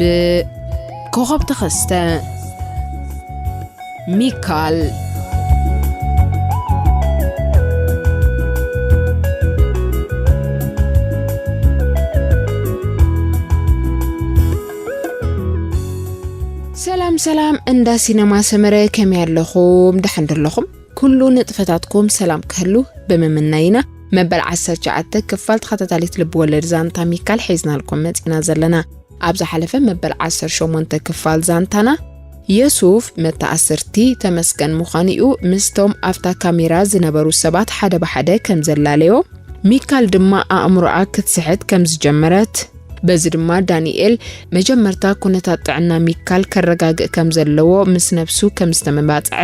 ብኮኸብ ተኸስተ ሚካል ሰላም ሰላም እንዳ ሲነማ ሰመረ ከመይ ኣለኹም ደሓን ዶ ኣለኹም ኩሉ ንጥፈታትኩም ሰላም ክህሉ ብምምናይ ኢና መበል 19 ክፋል ተኸታታሊት ልቢ ወለድ ዛንታ ሚካል ሒዝናልኩም መፂና ዘለና ኣብ ዝሓለፈ መበል 18 ክፋል ዛንታና የሱፍ መተኣስርቲ ተመስገን ምዃኑ እዩ ምስቶም ኣብታ ካሜራ ዝነበሩ ሰባት ሓደ ብሓደ ከም ዘላለዮ ሚካል ድማ ኣእምሮኣ ክትስሕት ከም ዝጀመረት በዚ ድማ ዳኒኤል መጀመርታ ኩነታት ጥዕና ሚካል ከረጋግእ ከም ዘለዎ ምስ ነብሱ ከም ዝተመባጽዐ፣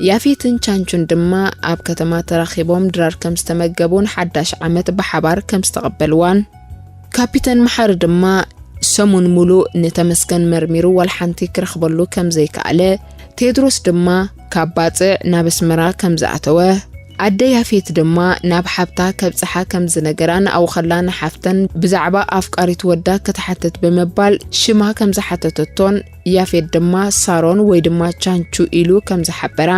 ያፌትን ቻንቹን ድማ ኣብ ከተማ ተራኺቦም ድራር ከም ዝተመገቡን ሓዳሽ ዓመት ብሓባር ከም ዝተቐበልዋን፣ ካፒተን መሓሪ ድማ ሰሙን ሙሉእ ንተመስገን መርሚሩ ዋላ ሓንቲ ክረኽበሉ ከም ዘይከኣለ፣ ቴድሮስ ድማ፣ ካብ ባጽዕ ናብ ኣስመራ ከም ዝኣተወ፣ ኣደ ያፌት ድማ ናብ ሓብታ ከብጽሓ ከም ዝነገራን ኣብኡ ከላ ንሓፍተን ብዛዕባ ኣፍቃሪት ወዳ ክትሓትት ብምባል ሽማ ከም ዝሓተተቶን ያፌት ድማ ሳሮን ወይ ድማ ቻንቹ ኢሉ ከም ዝሓበራ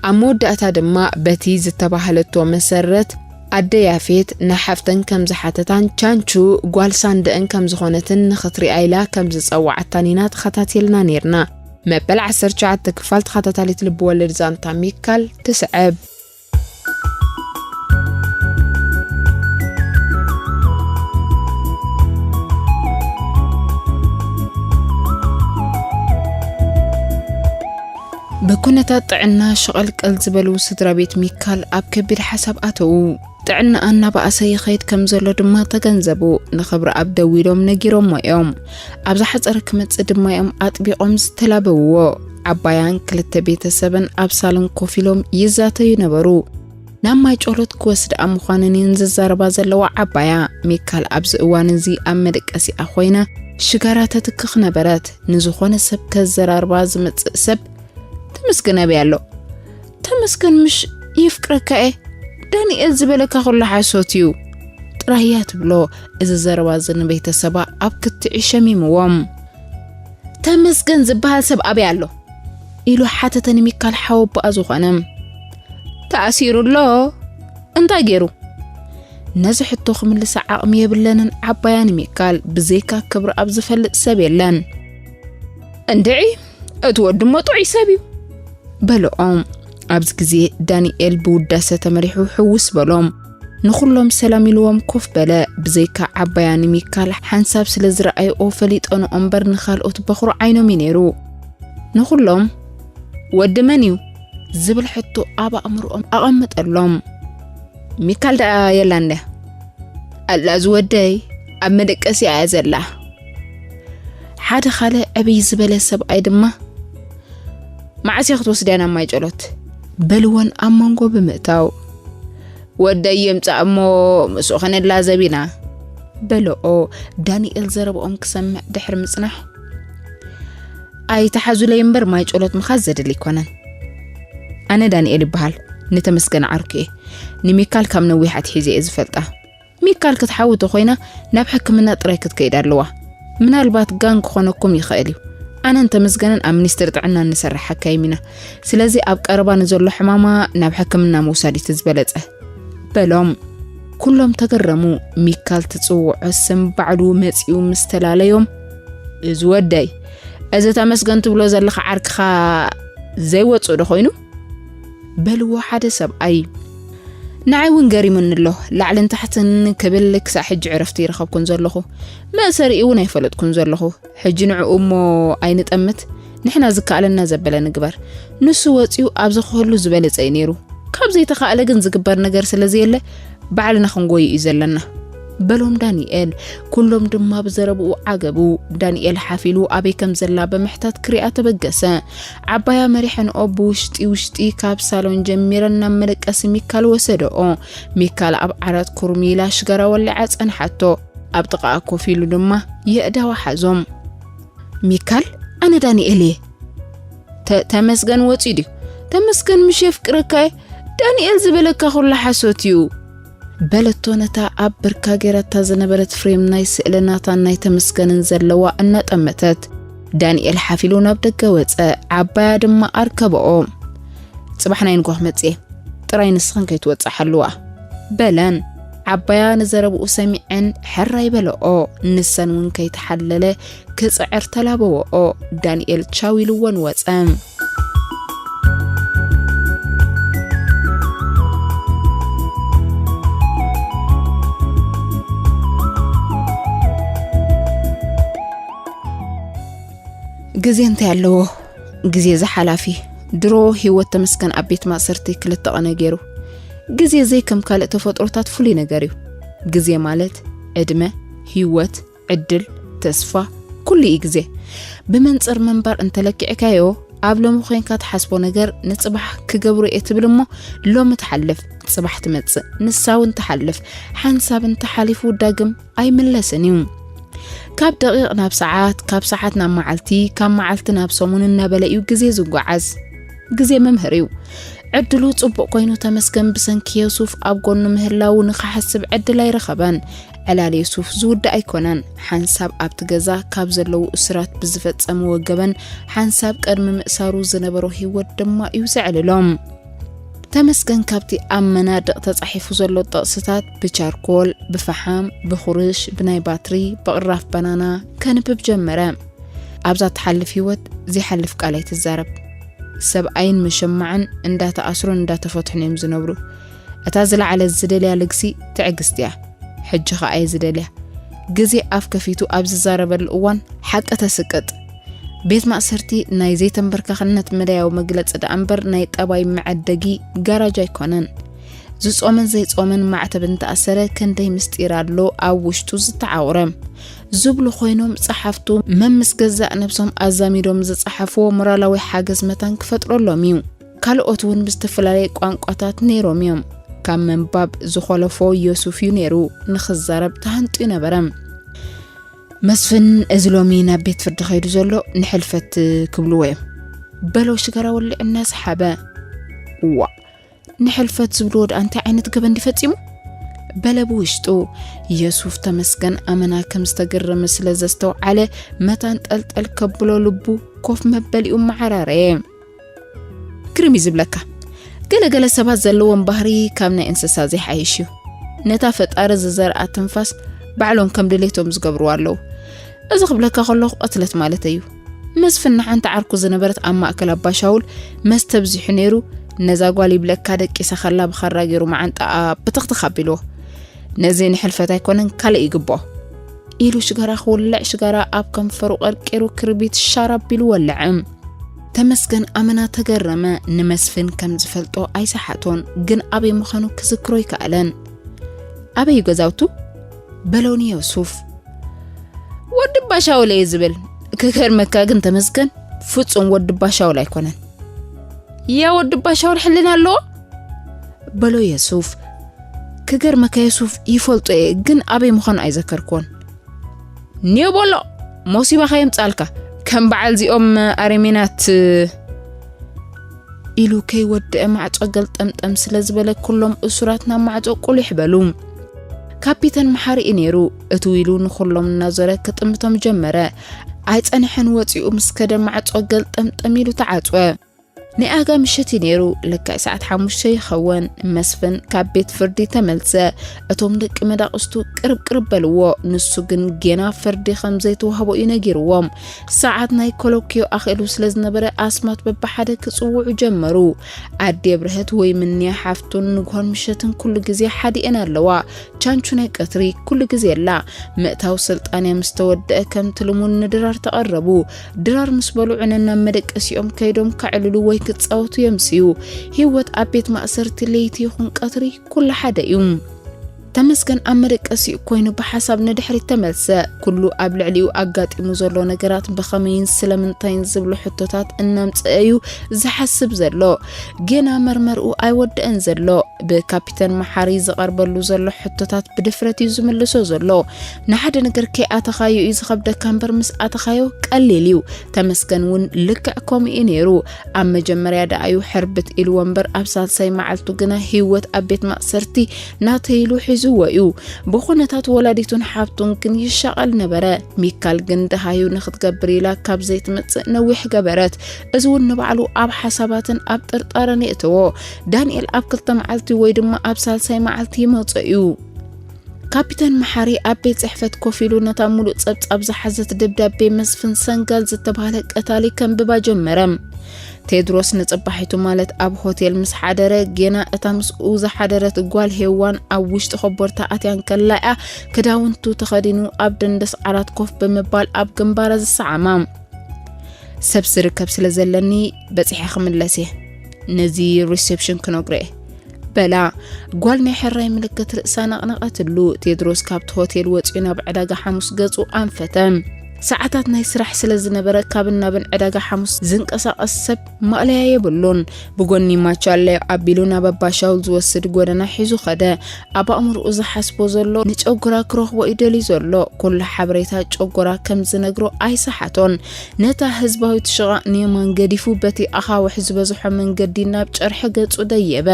ኣብ መወዳእታ ድማ በቲ ዝተባህለቶ መሰረት ኣደ ያፌት ንሓፍተን ከም ዝሓተታን ቻንቹ ጓል ሳንደእን ከም ዝኾነትን ንኽትሪኣ ኢላ ከም ዝጸዋዓታን ኢና ተኸታቲልና ኔርና። መበል ዓሰርተ ትሽዓተ ክፋል ተኸታታሊት ልብወለድ ዛንታ ሚካል ትስዕብ። ብኩነታት ጥዕና ሸቐልቀል ዝበሉ ስድራ ቤት ሚካል ኣብ ከቢድ ሓሳብ ኣተዉ። ጥዕናኣ እናበኣሰ ይኸይድ ከም ዘሎ ድማ ተገንዘቡ። ንክብረኣብ ደዊሎም ነጊሮሞ እዮም። ኣብ ዝሓጸረ ክመጽእ ድማ እዮም ኣጥቢቖም ዝተላበውዎ። ዓባያን ክልተ ቤተሰብን ኣብ ሳሎን ኮፍ ኢሎም ይዛተዩ ነበሩ። ናብ ማይ ጮሎት ክወስድኣ ምዃነን እየን ዝዛረባ ዘለዋ። ዓባያ ሚካል ኣብዚ እዋን እዚ ኣብ መደቀሲኣ ኮይና ሽጋራ ተትክኽ ነበረት። ንዝኾነ ሰብ ከዘራርባ ዝመጽእ ሰብ ተመስገን ኣበይ ኣሎ ተመስገን ምሽ የፍቅረካ እየ ዳንኤል ዝበለካ ኩሉ ሓሶት እዩ ጥራይ እያ ትብሎ እዚ ዘረባ እዚ ንቤተሰባ ኣብ ክትዒ ሸሚምዎም ተመስገን ዝበሃል ሰብ ኣበይ ኣሎ ኢሉ ሓተተ ንሚካል ሓወቦኣ ዝኾነ ተኣሲሩ ኣሎ እንታይ ገይሩ ነዚ ሕቶ ክምልሳ ዓቕሚ የብለንን ዓባያ ንሚካል ብዘይካ ክብሪ ኣብ ዝፈልጥ ሰብ የለን እንድዒ እቲ ወዲ እሞ ጥዑይ ሰብ እዩ በልዖም። ኣብዚ ግዜ ዳንኤል ብውዳሰ ተመሪሑ ሕውስ በሎም። ንኹሎም ሰላም ኢልዎም ኮፍ በለ። ብዘይካ ዓባያ ንሚካል ሓንሳብ ስለ ዝረኣየኦ ፈሊጠንኦ እምበር ንኻልኦት በኹሪ ዓይኖም እዩ ነይሩ። ንኹሎም ወዲ መን እዩ ዝብል ሕቶ ኣብ ኣእምሮኦም ኣቐመጠሎም። ሚካል ደኣ የላን ድያ? ኣላ ዝወደይ ኣብ መደቀሲኣ እያ ዘላ። ሓደ ካልእ ዕብይ ዝበለ ሰብኣይ ድማ መዓስ እያ ክትወስድያ ናብ ማይ ጨሎት በልወን ኣብ መንጎ ብምእታው ወደይ የምፃእ እሞ ምስኡ ክንላዘብ ኢና በልኦ ዳንኤል ዘረብኦም ክሰምዕ ድሕሪ ምፅናሕ ኣይተሓዙለይ እምበር ማይ ጨሎት ምኻዝ ዘድሊ ኣይኮነን ኣነ ዳንኤል ይበሃል ንተመስገን ዓርኩ እየ ንሚካል ካብ ነዊሕ ኣትሒዘ እየ ዝፈልጣ ሚካል ክትሓዊ ተኾይና ናብ ሕክምና ጥራይ ክትከይድ ኣለዋ። ምናልባት ጋን ክኾነኩም ይኽእል እዩ። ኣነን ተመስገንን ኣብ ሚኒስትሪ ጥዕና እንሰርሕ ሓካይም ኢና። ስለዚ ኣብ ቀረባ ንዘሎ ሕማማ ናብ ሕክምና ምውሳድ እዩ እቲ ዝበለጸ በሎም። ኩሎም ተገረሙ። ሚካል ትጽውዖ ስም ባዕሉ መጺኡ ምስ ተላለዮም እዚ ወደይ እዚ ተመስገን ትብሎ ዘለኻ ዓርክኻ ዘይወጽእ ዶ ኮይኑ በልዎ ሓደ ሰብኣይ። ንዓይ እውን ገሪሙኒ ኣሎ። ላዕልን ታሕትን ክብል ክሳዕ ሕጂ ዕረፍቲ ይረኸብኩን ዘለኹ። መእሰሪኡ እውን ኣይፈለጥኩን ዘለኹ። ሕጂ ንዕኡ እሞ ኣይንጠምት፣ ንሕና ዝከኣለና ዘበለ ንግበር። ንሱ ወጺኡ ኣብዚ ክህሉ ዝበለጸ እዩ ነይሩ። ካብ ዘይተኻእለ ግን ዝግበር ነገር ስለ ዘየለ ባዕልና ክንጎዩ እዩ ዘለና። በሎም ዳንኤል። ኩሎም ድማ ብዘረብኡ ዓገቡ። ዳንኤል ሓፍ ኢሉ ኣበይ ከም ዘላ ብምሕታት ክሪኣ ተበገሰ። ዓባያ መሪሐንኦ ብውሽጢ ውሽጢ ካብ ሳሎን ጀሚረን ናብ መደቀሲ ሚካል ወሰደኦ። ሚካል ኣብ ዓራት ኩርሚ ኢላ ሽጋራ ወሊዓ ጸንሓቶ። ኣብ ጥቓኣ ኮፍ ኢሉ ድማ የእዳዋ ሓዞም። ሚካል ኣነ ዳንኤል እየ። ተመስገን ወፂኡ ድዩ? ተመስገን ምሽ የፍቅረካ እየ። ዳንኤል ዝበለካ ኩሉ ሓሶት እዩ። በለቶ ነታ ኣብ ብርካ ጌራታ ዝነበረት ፍሬም ናይ ስእሊ ናታን ናይ ተመስገንን ዘለዋ እናጠመተት። ዳንኤል ሓፍ ኢሉ ናብ ደገ ወጸ፣ ዓባያ ድማ ኣርከበኦ። ጽባሕ ናይ ንጓህ መጽየ ጥራይ ንስኽን ከይትወጽእ ሓልዋ በለን። ዓባያ ንዘረብኡ ሰሚዐን ሕራይ በለኦ። ንሰን እውን ከይተሓለለ ክጽዕር ተላበወኦ። ዳንኤል ቻው ኢልዎን ወጸ። ግዜ እንታይ ኣለዎ ግዜ ዝሓላፊ ድሮ ህይወት ተመስገን ኣብ ቤት ማእሰርቲ ክልተ ቐነ ገይሩ ግዜ ዘይከም ካልእ ተፈጥሮታት ፍሉይ ነገር እዩ ግዜ ማለት ዕድመ ህይወት ዕድል፣ ተስፋ፣ ኩሉ እዩ ግዜ። ብመንጽር ምንባር እንተለኪዕካዮ ኣብ ሎሚ ኮንካ ትሓስቦ ነገር ንጽባሕ ክገብሮ እየ ትብል እሞ ሎሚ ትሓልፍ ጽባሕ ትመጽእ ንሳ እውን ትሓልፍ ሓንሳብ እንተሓሊፉ ዳግም ኣይምለስን እዩ ካብ ደቂቕ ናብ ሰዓት ካብ ሰዓት ናብ መዓልቲ ካብ መዓልቲ ናብ ሰሙን እናበለ እዩ ግዜ ዝጓዓዝ ግዜ መምህር እዩ ዕድሉ ጽቡቕ ኮይኑ ተመስገን ብሰንኪ የሱፍ ኣብ ጎኑ ምህላው ንኽሓስብ ዕድል ኣይረኸበን ዕላል የሱፍ ዝውዳእ ኣይኮነን። ሓንሳብ ኣብቲ ገዛ ካብ ዘለዉ እሱራት ብዝፈጸምዎ ገበን፣ ሓንሳብ ቅድሚ ምእሳሩ ዝነበሮ ህይወት ድማ እዩ ዘዕልሎም። ተመስገን ካብቲ ኣብ መናድቕ ተጻሒፉ ዘሎ ጥቕስታት ብቻርኮል ብፈሓም ብኹርሽ ብናይ ባትሪ ብቕራፍ ባናና ከንብብ ጀመረ ኣብዛ ትሓልፍ ህይወት ዘይሓልፍ ቃል ኣይትዛረብ ሰብኣይን መሸማዕን እንዳተኣስሩን እንዳተፈትሑን እዮም ዝነብሩ እታ ዝለዓለት ዝደልያ ልግሲ ትዕግስቲ እያ። ሕጂ ኸኣ እየ ዝደልያ። ግዜ ኣፍ ከፊቱ ኣብ ዝዛረበሉ እዋን ሓቂ ተስቅጥ። ቤት ማእሰርቲ ናይ ዘይተንበርካኽነት መዳያዊ መግለጺ ደኣ እምበር ናይ ጠባይ መዐደጊ ጋራጅ ኣይኮነን። ዝጾመን ዘይጾመን ማዕተብ እንተኣሰረ ክንደይ ምስጢር ኣሎ ኣብ ውሽጡ ዝተዓውረ ዝብሉ ኮይኖም ጸሓፍቱ መምስ ገዛእ ነብሶም ኣዛሚዶም ዝጸሓፍዎ ሞራላዊ ሓገዝ መታን ክፈጥረሎም እዩ። ካልኦት እውን ብዝተፈላለየ ቋንቋታት ነይሮም እዮም። ካብ ምንባብ ዝኾለፎ ዮሱፍ እዩ ነይሩ ንኽዛረብ ተሃንጥዩ ነበረ። መስፍን እዚ ሎሚ ናብ ቤት ፍርዲ ከይዱ ዘሎ ንሕልፈት ክብልዎ እዮም በሎ ሽጋራ ወልዕ እናሰሓበ። እዋ ንሕልፈት ዝብልዎ ድኣ እንታይ ዓይነት ገበን ፈፂሙ በለ ብውሽጡ። የሱፍ ተመስገን ኣመና ከም ዝተገረመ ስለ ዘስተውዓለ መታን ጠልጠል ከብሎ ልቡ ኮፍ መበሊኡ መዓራረየ። ግርም እዩ ዝብለካ ገለ ገለ ሰባት ዘለዎም ባህሪ ካብ ናይ እንስሳ ዘይሓይሽ እዩ ነታ ፈጣሪ ዝዘርኣ ትንፋስ ባዕሎም ከም ድሌቶም ዝገብርዋ ኣለዉ እዚ ክብለካ ከለኹ ቐትለት ማለት እዩ መስፍን ንሓንቲ ዓርኩ ዝነበረት ኣብ ማእከል ኣባሻውል መስተ ብዚሑ ነይሩ ነዛ ጓል ይብለካ ደቂሰ ከላ ብኻራ ገይሩ መዓንጣኣ ብትኽትኽ ኣቢልዎ ነዚ ንሕልፈት ኣይኮነን ካልእ ይግብኦ ኢሉ ሽጋራ ክውልዕ ሽጋራ ኣብ ከንፈሩ ቀርቂሩ ክርቢት ሻራ ኣቢሉ ወልዐ ተመስገን ኣመና ተገረመ። ንመስፍን ከም ዝፈልጦ ኣይሰሓቶን፣ ግን ኣበይ ምዃኑ ክዝክሮ ኣይከኣለን። ኣበይ ገዛውቱ? በሎ ንዮሱፍ። ወዲ ባሻውል እየ ዝብል። ክገርመካ ግን ተመስገን ፍጹም ወዲ ባሻውል ኣይኮነን። ያ ወዲ ባሻውል ሕልና ኣለዎ? በሎ የሱፍ። ክገርመካ የሱፍ ይፈልጦ እየ፣ ግን ኣበይ ምዃኑ ኣይዘከርክዎን። ኒዮ ቦሎ ሞሲባ ከየምጻልካ ከም በዓል ዚኦም ኣረሜናት ኢሉ ከይወድአ ማዕጾ ገልጠምጠም ስለ ዝበለ ኩሎም እሱራት ናብ ማዕጾ ቁሊሕ በሉ ካፒተን መሓሪ እዩ ነይሩ እቲ ዊሉ ንኹሎም እናዞረ ክጥምቶም ጀመረ ኣይጸንሐን ወፂኡ ምስ ከደ ማዕጾ ገልጠምጠም ኢሉ ተዓጽወ ናይ ኣጋ ምሸት እዩ ነይሩ ልክዕ ሰዓት ሓሙሽተ ይኸውን መስፍን ካብ ቤት ፍርዲ ተመልሰ እቶም ደቂ መዳቕስቱ ቅርብ ቅርብ በልዎ ንሱ ግን ጌና ፍርዲ ከም ዘይተዋህቦ እዩ ነጊርዎም ሰዓት ናይ ኮሎኪዮ ኣኽእሉ ስለ ዝነበረ ኣስማት በብሓደ ክጽውዑ ጀመሩ ኣዴ ብርሀት ወይ ምንያ ሓፍቱን ንግሆን ምሸትን ኩሉ ግዜ ሓዲኤን ኣለዋ ቻንቹ ናይ ቀትሪ ኩሉ ግዜ ኣላ ምእታው ስልጣንያ ምስ ተወደአ ከምቲ ልሙን ንድራር ተቐረቡ ድራር ምስ በልዑ ነናብ መደቀሲኦም ከይዶም ከዕልሉ ወይ ክጻወቱ የምስዩ። ህይወት ኣብ ቤት ማእሰርቲ ለይቲ ይኹን ቀትሪ ኩሉ ሓደ እዩ። ተመስገን ኣብ መደቀሲኡ ኮይኑ ብሓሳብ ንድሕሪት ተመልሰ። ኩሉ ኣብ ልዕሊኡ ኣጋጢሙ ዘሎ ነገራት ብኸመይን ስለምንታይን ዝብሉ ሕቶታት እናምጽአ እዩ ዝሓስብ ዘሎ። ጌና መርመርኡ ኣይወደአን ዘሎ። ብካፒተን መሓሪ ዝቐርበሉ ዘሎ ሕቶታት ብድፍረት እዩ ዝምልሶ ዘሎ። ንሓደ ነገር ከይኣተኻዮ እዩ ዝኸብደካ እምበር ምስ ኣተኻዮ ቀሊል እዩ ተመስገን እውን ልክዕ ከምኡ እዩ ነይሩ ኣብ መጀመርያ ደኣ እዩ ሕርብት ኢልዎ እምበር ኣብ ሳልሳይ መዓልቱ ግና ህይወት ኣብ ቤት ማእሰርቲ ናተይሉ ሒዝዎ እዩ ብኩነታት ወላዲቱን ሓብቱን ግን ይሻቐል ነበረ ሚካል ግን ደሃዩ ንክትገብር ኢላ ካብ ዘይትመጽእ ነዊሕ ገበረት እዚ እውን ንባዕሉ ኣብ ሓሳባትን ኣብ ጥርጣረን የእተዎ ዳንኤል ኣብ ክልተ መዓልቲ ወይ ድማ ኣብ ሳልሳይ መዓልቲ ይመጾ እዩ ካፒተን መሓሪ ኣብ ቤት ጽሕፈት ኮፍ ኢሉ ነታ ሙሉእ ጸብጻብ ዝሓዘት ደብዳቤ መስፍን ሰንጋል ዝተባህለ ቀታሊ ከንብባ ጀመረ። ቴድሮስ ንጽባሒቱ ማለት ኣብ ሆቴል ምስ ሓደረ ጌና እታ ምስኡ ዝሓደረት ጓል ሄዋን ኣብ ውሽጢ ኮቦርታ ኣትያ እንከላ እያ ክዳውንቱ ተኸዲኑ ኣብ ደንደስ ዓራት ኮፍ ብምባል ኣብ ግንባራ ዝሰዓማ ሰብ ዝርከብ ስለ ዘለኒ በጺሐ ክምለስ እየ ነዚ ሪሴፕሽን ክነግሮ እየ በላ ጓል ናይ ሕራይ ምልክት ርእሳ ነቕነቐትሉ ቴድሮስ ካብቲ ሆቴል ወፂኡ ናብ ዕዳጋ ሓሙስ ገጹ ኣንፈተ ሰዓታት ናይ ስራሕ ስለ ዝነበረ ካብን ናብን ዕዳጋ ሓሙስ ዝንቀሳቐስ ሰብ ማእለያ የብሉን ብጎኒ ማቻለ ኣቢሉ ናብ ኣባሻውል ዝወስድ ጎደና ሒዙ ኸደ ኣብ ኣእምርኡ ዝሓስቦ ዘሎ ንጨጎራ ክረኽቦ እዩ ደልዩ ዘሎ ኩሉ ሓበሬታ ጨጎራ ከም ዝነግሮ ኣይሰሓቶን ነታ ህዝባዊት ሽቓቕ ንየማን ገዲፉ በቲ ኣኻውሕ ዝበዝሖ መንገዲ ናብ ጨርሒ ገጹ ደየበ።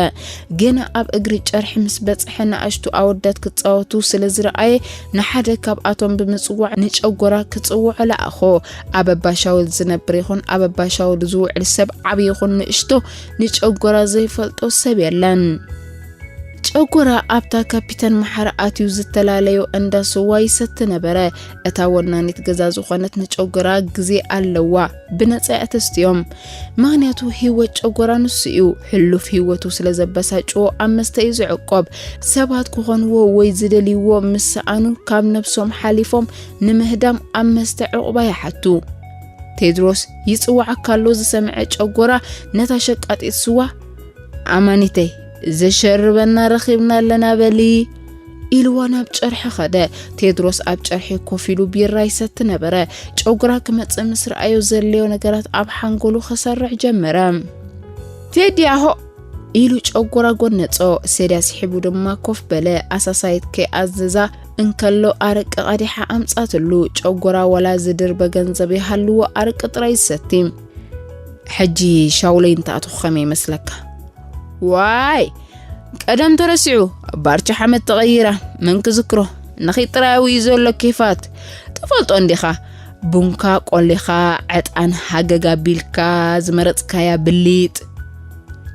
ግና ኣብ እግሪ ጨርሒ ምስ በጽሐ ንኣሽቱ ኣወዳት ክጻወቱ ስለ ዝረኣየ ንሓደ ካብኣቶም ብምጽዋዕ ንጨጎራ ክጽውዖ ለኣኾ። ኣብ ኣባ ሻውል ዝነብር ይኹን ኣብ ኣባ ሻውል ዝውዕል ሰብ ዓቢ ይኹን ንእሽቶ ንጨጎራ ዘይፈልጦ ሰብ የለን። ጨጎራ ኣብታ ካፒተን መሓሪ ኣትዩ ዝተላለዮ እንዳ ስዋ ይሰቲ ነበረ። እታ ወናኒት ገዛ ዝኾነት ንጨጎራ ግዜ ኣለዋ ብነፃ እተስትዮም ምክንያቱ ህይወት ጨጎራ ንሱ እዩ ሕሉፍ ህይወቱ ስለ ዘበሳጭዎ ኣብ መስተ እዩ ዝዕቆብ ሰባት ክኾንዎ ወይ ዝደልይዎ ምስ ሰኣኑ ካብ ነብሶም ሓሊፎም ንምህዳም ኣብ መስተ ዕቑባ ይሓቱ ቴድሮስ ይፅዋዓካ ኣሎ ዝሰምዐ ጨጎራ ነታ ሸቃጢት ስዋ ኣማኒተይ ዘሸርበና ረኺብና ኣለና በሊ ኢልዋ ናብ ጨርሒ ኸደ። ቴድሮስ ኣብ ጨርሒ ኮፍ ኢሉ ቢራ ይሰቲ ነበረ። ጨጉራ ክመጽእ ምስ ረኣዮ ዘድለዮ ነገራት ኣብ ሓንጎሉ ኸሰርዕ ጀመረ። ቴዲ ኣሆ ኢሉ ጨጉራ ጎነጾ። ሴድያ ስሒቡ ድማ ኮፍ በለ። ኣሳሳይት ከይኣዘዛ እንከሎ ኣረቂ ቀዲሓ ኣምጻትሉ። ጨጉራ ወላ ዝድር በገንዘብ ይሃልዎ ኣረቂ ጥራይ ዝሰቲ። ሕጂ ሻውለይ እንተኣትኹ ኸመይ ይመስለካ? ዋይ ቀደም ተረሲዑ ባርቻ ሓመድ ተቐይራ መን ክዝክሮ ንኺ ጥራዊ እዩ ዘሎ ኬፋት ትፈልጦ እንዲኻ ቡንካ ቆሊኻ ዕጣን ሃገግ ኣቢልካ ዝመረጽካያ ብሊጥ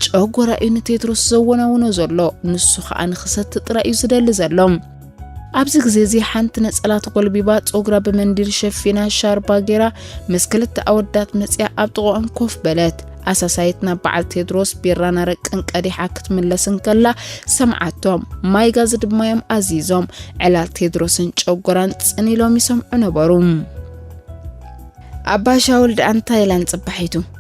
ጨጎራ እዩ ንቴድሮስ ዘወናውኖ ዘሎ ንሱ ኸኣ ንኽሰቲ ጥራይ እዩ ዝደሊ ዘሎ ኣብዚ ግዜ እዚ ሓንቲ ነጸላ ተጎልቢባ ጸጉራ ብመንዲል ሸፊና ሻርባ ጌራ ምስ ክልተ ኣወዳት መጽያ ኣብ ጥቕኦም ኮፍ በለት። ኣሳሳይት ናብ በዓል ቴድሮስ ቢራን ኣረቅን ቀዲሓ ክትምለስ እንከላ ሰምዓቶም። ማይ ጋዝ ድማዮም ኣዚዞም። ዕላል ቴድሮስን ጨጎራን ጽን ኢሎም ይሰምዑ ነበሩ። ኣባ ሻውል ደኣ እንታይ ኢለን ጽባሒቱ?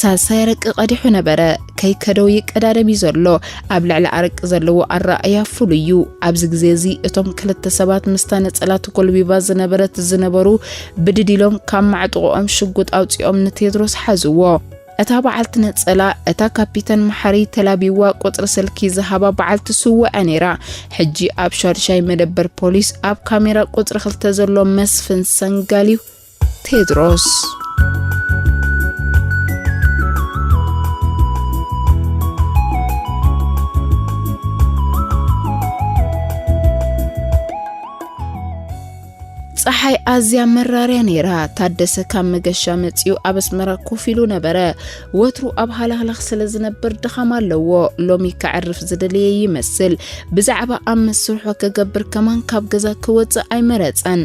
ሳልሳይ ኣረቂ ቀዲሑ ነበረ። ከይከደው ይቀዳደም እዩ ዘሎ። ኣብ ልዕሊ ኣረቂ ዘለዎ ኣረኣእያ ፍሉይ እዩ። ኣብዚ ግዜ እዚ እቶም ክልተ ሰባት ምስታ ነጸላ ተጎልቢባ ዝነበረት ዝነበሩ ብድድ ኢሎም ካብ ማዕጥቖኦም ሽጉጥ ኣውጺኦም ንቴድሮስ ሓዝዎ። እታ በዓልቲ ነጸላ እታ ካፒተን መሓሪ ተላቢዋ ቁጽሪ ስልኪ ዝሃባ በዓልቲ ስውዐ ነይራ። ሕጂ ኣብ ሻድሻይ መደበር ፖሊስ ኣብ ካሜራ ቁጽሪ ክልተ ዘሎ መስፍን ሰንጋል እዩ ቴድሮስ። ፀሓይ ኣዝያ መራርያ ነይራ። ታደሰ ካብ መገሻ መፂኡ ኣብ ኣስመራ ኮፍ ኢሉ ነበረ። ወትሩ ኣብ ሃላህላኽ ስለ ዝነብር ድኻም ኣለዎ። ሎሚ ከዕርፍ ዝደለየ ይመስል። ብዛዕባ ኣብ መስርሖ ክገብር ከማን ካብ ገዛ ክወፅእ ኣይመረፀን።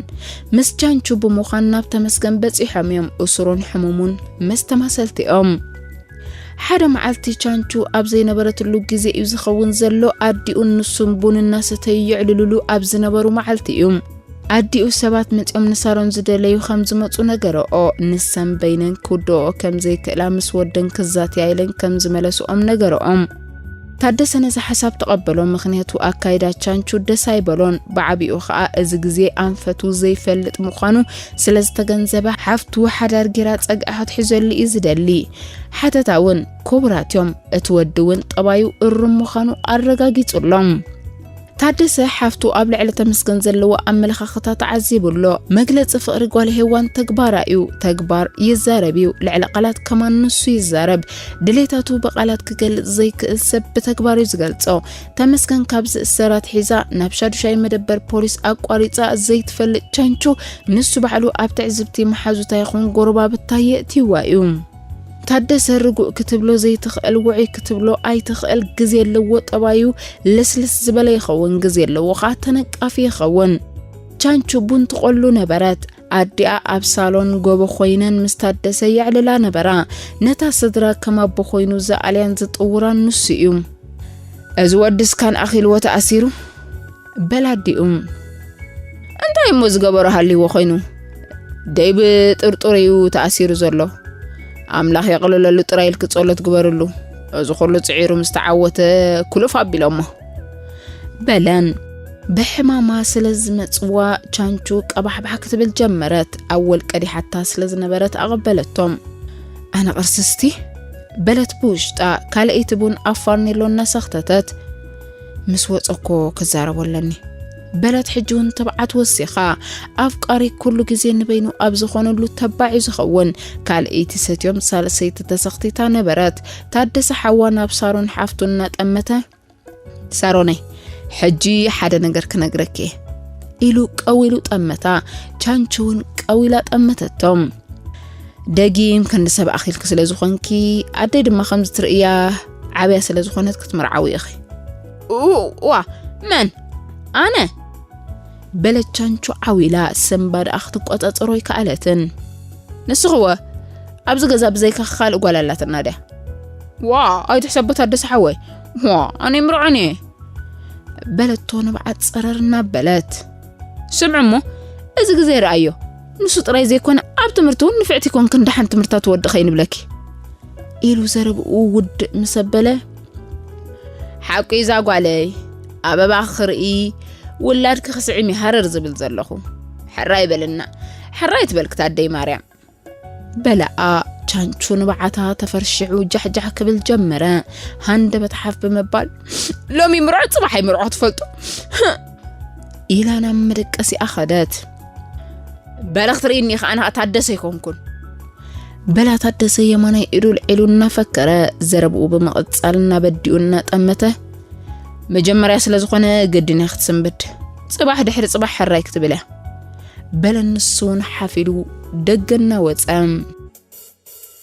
ምስ ጃንቹ ብምዃን ናብ ተመስገን በጺሖም እዮም። እሱሩን ሕሙሙን ምስ ተማሰልቲ እዮም። ሓደ መዓልቲ ቻንቹ ኣብ ዘይነበረትሉ ግዜ እዩ ዝኸውን ዘሎ። ኣዲኡን ንሱን ቡን እናሰተዩ የዕልሉሉ ኣብ ዝነበሩ መዓልቲ እዩ። ኣዲኡ ሰባት መጺኦም ንሳሮን ዝደለዩ ከም ዝመጹ ነገረኦ ንሰን በይነን ክውድኦ ከም ዘይክእላ ምስ ወደን ክዛትያ ኢለን ከም ዝመለስኦም ነገረኦም ታደሰ ነዚ ሓሳብ ተቐበሎ፣ ምኽንያቱ ኣካይዳ ቻንቹ ደስ ኣይበሎን። ብዓቢኡ ኸኣ እዚ ግዜ ኣንፈቱ ዘይፈልጥ ምዃኑ ስለ ዝተገንዘበ ሓፍቱ ሓዳር ጌራ ጸግዒ ክትሕዘሉ እዩ ዝደሊ። ሓተታ እውን ክቡራት እዮም፣ እቲ ወዲ እውን ጠባዩ እሩም ምዃኑ ኣረጋጊጹ ኣሎ። ታደሰ ሓፍቱ ኣብ ልዕሊ ተመስገን ዘለዎ ኣመለኻኽታ ተዓዚቡ ኣሎ። መግለጺ ፍቕሪ ጓል ሄዋን ተግባራ እዩ፣ ተግባር ይዛረብ እዩ፣ ልዕሊ ቃላት ከማን ንሱ ይዛረብ። ድሌታቱ ብቃላት ክገልጽ ዘይክእል ሰብ ብተግባር እዩ ዝገልጾ። ተመስገን ካብ ዝእሰር ኣትሒዛ ናብ ሻዱሻይ መደበር ፖሊስ ኣቋሪጻ ዘይትፈልጥ ቸንቹ ንሱ ባዕሉ ኣብ ትዕዝብቲ መሓዙታ ይኹን ጎረባብታ የእትይዋ እዩ። ታደሰ ርጉእ ክትብሎ ዘይትኽእል ውዑይ ክትብሎ ኣይትኽእል ግዜ ኣለዎ ጠባዩ ልስልስ ዝበለ ይኸውን ግዜ ኣለዎ ከዓ ተነቃፊ ይኸውን ቻንቹ ቡን ትቆሉ ነበረት ኣዲኣ ኣብ ሳሎን ጎቦ ኮይነን ምስ ታደሰ የዕልላ ነበራ ነታ ስድራ ከም ኣቦ ኮይኑ ዝኣልያን ዝጥውራን ንሱ እዩ እዚ ወድስ ካን ኣኺልዎ ተኣሲሩ በል ኣዲኡ እንታይ እሞ ዝገበሮ ሃልይዎ ኮይኑ ደይ ብጥርጡር እዩ ተኣሲሩ ዘሎ ኣምላኽ የቕልለሉ ጥራይ ኢልኪ ጸሎት ግበርሉ እዚ ኩሉ ጽዒሩ ምስ ተዓወተ ኩሉፍ ኣቢሎሞ በለን ብሕማማ ስለ ዝመጽዋ ቻንቹ ቀባሕባሕ ክትብል ጀመረት ኣወል ቀዲሓታ ስለ ዝነበረት ኣቐበለቶም ኣነ ቕርስስቲ በለት ብውሽጣ ካልኣይቲ ቡን ኣብ ፋርኔሎ እናሰኽተተት ምስ ወጸኮ ክዛረቦ ኣለኒ በለት ሕጂ እውን ትብዓት ወሲኻ ኣፍቃሪ ኩሉ ግዜ ንበይኑ ኣብ ዝኾነሉ ተባዕ እዩ ዝኸውን ካልእይቲ ሰትዮም ሳልሰይቲ ተሰኽቲታ ነበረት ታደሰ ሓዋ ናብ ሳሮን ሓፍቱ እናጠመተ ሳሮነይ ሕጂ ሓደ ነገር ክነግረኪ ኢሉ ቀዊሉ ጠመታ ቻንቺ እውን ቀዊላ ጠመተቶም ደጊም ክንዲ ሰብ ኣኺልኪ ስለ ዝኾንኪ ኣደይ ድማ ከምዚ ትርእያ ዓብያ ስለ ዝኾነት ክትምርዓዊ ኢኺ ዋ መን ኣነ በለቻንቹ ዓው ኢላ ሰምባድኣ ክትቆጻጸሮ ኣይከኣለትን ንስኽወ ኣብዚ ገዛ ብዘይካ ካልእ ጓል ኣላትና ድያ ዋ ኣይትሕሰቦት ኣደሰ ሓወይ ዋ ኣነ ምርዖን እየ በለቶ ንብዓት ጸረር እናበለት ስምዑ እሞ እዚ ግዜ ረኣዮ ንሱ ጥራይ ዘይኮነ ኣብ ትምህርቲ እውን ንፍዕቲ ኮንክ እንዳሓን ትምህርታ ትወድኸ ይንብለኪ ኢሉ ዘረብኡ ውድእ ምስ ኣበለ ሓቁ እዛ ጓለይ ኣበባ ክርኢ ውላድ ክኽስዕም ይሃረር ዝብል ዘለኹ ሕራይ በልና ሕራይ ትበልክት ኣደይ ማርያም በላኣ ቻንቹ ንባዓታ ተፈርሽዑ ጃሕጃሕ ክብል ጀመረ ሃንደበት ሓፍ ብምባል ሎሚ ምርዖ ፅባሕ ኣይምርዖ ትፈልጡ ኢላ ናብ መደቀሲኣ ኸደት በለ ክትርእኒ ኢኻ ኣነ ታደሰ ኣይኮንኩን በላ ታደሰ የማናይ ኢዱ ልዒሉ እናፈከረ ዘረብኡ ብምቕጻል እናበዲኡ እናጠመተ መጀመርያ ስለ ዝኾነ ግድን እያ ክትስንብድ ጽባሕ ድሕሪ ጽባሕ ሕራይ ክትብል እያ በለ ንሱ እውን ሓፍ ኢሉ ደገ እናወጸ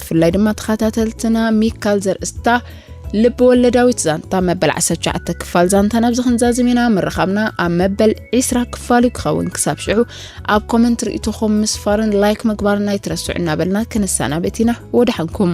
ብፍላይ ድማ ተኸታተልትና ሚካል ዘርእስታ ልቢ ወለዳዊት ዛንታ መበል 19 ክፋል ዛንታ ናብ ዝክንዛዝም ኢና ምርኻብና ኣብ መበል 20 ክፋል እዩ ክኸውን ክሳብ ሽዑ ኣብ ኮመንት ርእቶኹም ምስፋርን ላይክ ምግባርና ይትረስዑ እናበልና ክንሰናበት ኢና ወደሓንኩም